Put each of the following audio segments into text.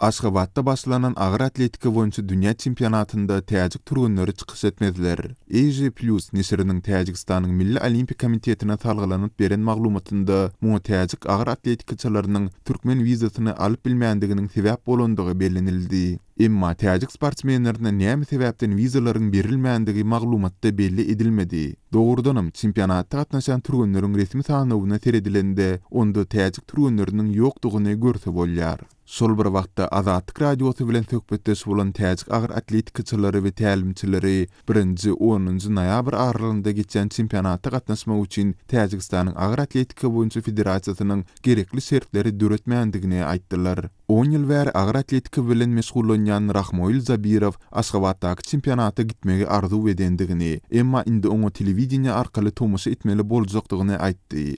Aşgabatda başlanan agyr atletika boýunça dünýä çempionatynda täjik türgenleri çykyş etmezler. Asia Plus neşiriniň Täjigistanyň Milli Olimpiýa komitetine salgylanyp beren maglumatynda muňa täjik agyr atletikaçylarynyň türkmen wizasyny alyp bilmändiginiň sebäp bolandygy bellenildi. Emma täjik sportsmenlerine näme sebäpden wizalaryň berilmändigi maglumatda belli edilmedi. Dogrudanam, çempionata gatnaşan türgenleriň resmi sanawyna seredilende, onda täjik türgenleriniň ýokdugyny görse bolýar. Şol bir wagtda, Azatlyk Radiosy bilen söhbetdeş bolan täjik agyr atletikaçylary we tälimçileri birinji, onunjy noýabr aralygynda geçýän çempionata gatnaşmak üçin Täjigistanyň Agyr atletika boýunça federasiýasynyň gerekli şertleri döretmändigini aýtdylar. On ýyl bäri agyr atletika bilen meşgullanýan Rahmoil Zabirow Aşgabatdaky çempionata gitmegi arzuw edendigini, emma indi oňa telewideniýe arkaly tomaşa etmeli boljakdygyny aýtdy.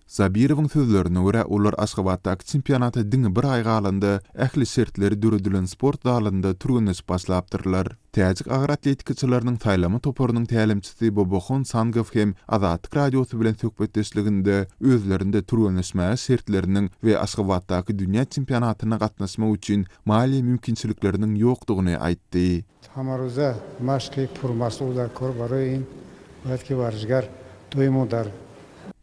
Sabirowyň sözlerine görä, olar Aşgabatdaky çempionata diňe bir aý galanda, ähli şertleri döredilen sport zalynda türgenleşip başlapdyrlar. Täjik agyr atletikaçylarynyň saýlama toparynyň tälimçisi Bobohon Sangow hem Azatlyk Radiosy bilen söhbetdeşliginde özlerinde türgenleşmäge şertleriniň we Aşgabatdaky dünýä çempionatyna gatnaşmak üçin maliýe mümkinçilikleriniň ýokdugyny aýtdy. Samaruzda maşky purmasu uda kur baruin wetki warzgar doimu dar.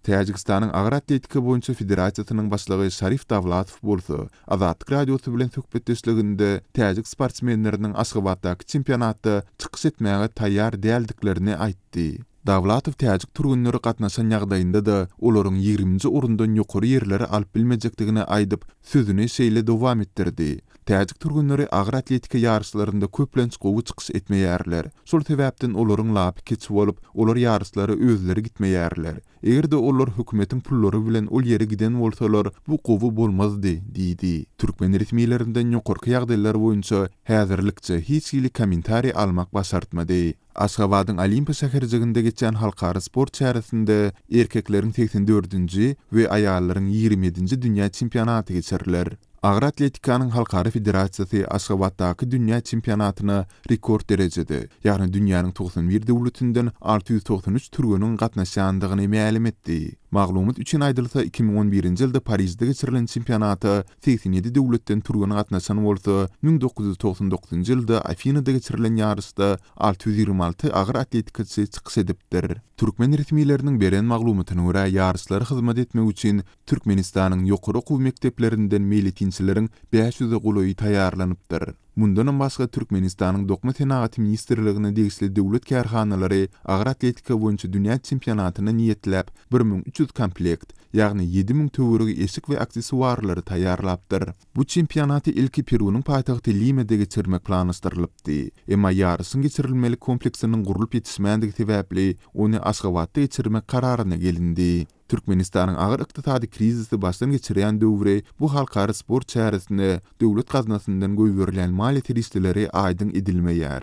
Täjigistanyň Agyr atletika boýunça federasiýasynyň başlygy Şarif Dawlatow bolsa, Azatlyk Radiosy bilen söhbetdeşliginde täjik sportsmenleriniň Aşgabatdaky çempionatda çykyş etmäge taýýar däldiklerini aýtdy. Dawlatow täjik türgenleri gatnaşan ýagdaýynda-da, olaryň ýigriminji orundan ýokary ýerleri alyp bilmejekdigini aýdyp, sözüni şeýle dowam etdirdi, Täjik türgenleri agyr atletika ýaryşlarynda köplenç gowy çykyş etmeýärler. Şol sebäpden olaryň lapy kiçi bolup, olar ýaryşlara özleri gitmeýärler. Eger-de olar hökümetiň pullary bilen ol ýere giden bolsalar, bu gowy bolmazdy, diýdi. Türkmen resmilerinden ýokarky ýagdaýlar boýunça häzirlikçe hiç hili kommentariý almak başartmady. Aşgabadyň Olimpiýa şäherjiginde geçýän halkara sport çäresinde erkekleriň segsen dördünji we aýallaryň ýigrimi ýedinji dünýä çempionaty geçiriler. Agyr atletikanyň halkara federasiýasy Aşgabatdaky dünýä çempionatyna rekord derejede, ýagny dünýäniň togsan bir döwletinden alty ýüz togsan üç türgeniň gatnaşýandygyny mälim etdi. Maglumat üçin aýdylsa, iki müň on birinji ýylda Parižde geçirilen çempionata segsen ýedi döwletden türgen gatnaşan bolsa, müň dokuz ýüz togsan dokuzynjy ýylda Afinada geçirilen ýaryşda alty ýüz ýigrimi alty agyr atletikaçy çykyş edipdir. Türkmen resmileriniň beren maglumatyna görä, ýaryşlara hyzmat etmek üçin Türkmenistanyň ýokary okuw mekdeplerinden meýletinçileriň bäş ýüze golaýy taýýarlanypdyr. Mundanam başga Türkmenistanyň Dokma senagaty ministrligine degişli döwlet kärhanalary agyr atletika boýunça dünýä çempionatyna niýetläp bir müň üç ýüz komplekt, ýagny ýedi müň töweregi eşik we aksesuarlary taýýarlapdyr. Bu çempionaty ilki Perunyň paýtagty Limada geçirmek planlaşdyrylypdy, emma ýaryşyň geçirilmelik kompleksiniň gurlup ýetişmändigi sebäpli ony Aşgabatda geçirmek kararyna gelindi. Türkmenistanyň agyr ykdysady krizisi başdan geçirýän döwri bu halkara sport çäresine döwlet gaznasyndan goýberilýän maliýe serişdeleri aýdyň edilmeýär.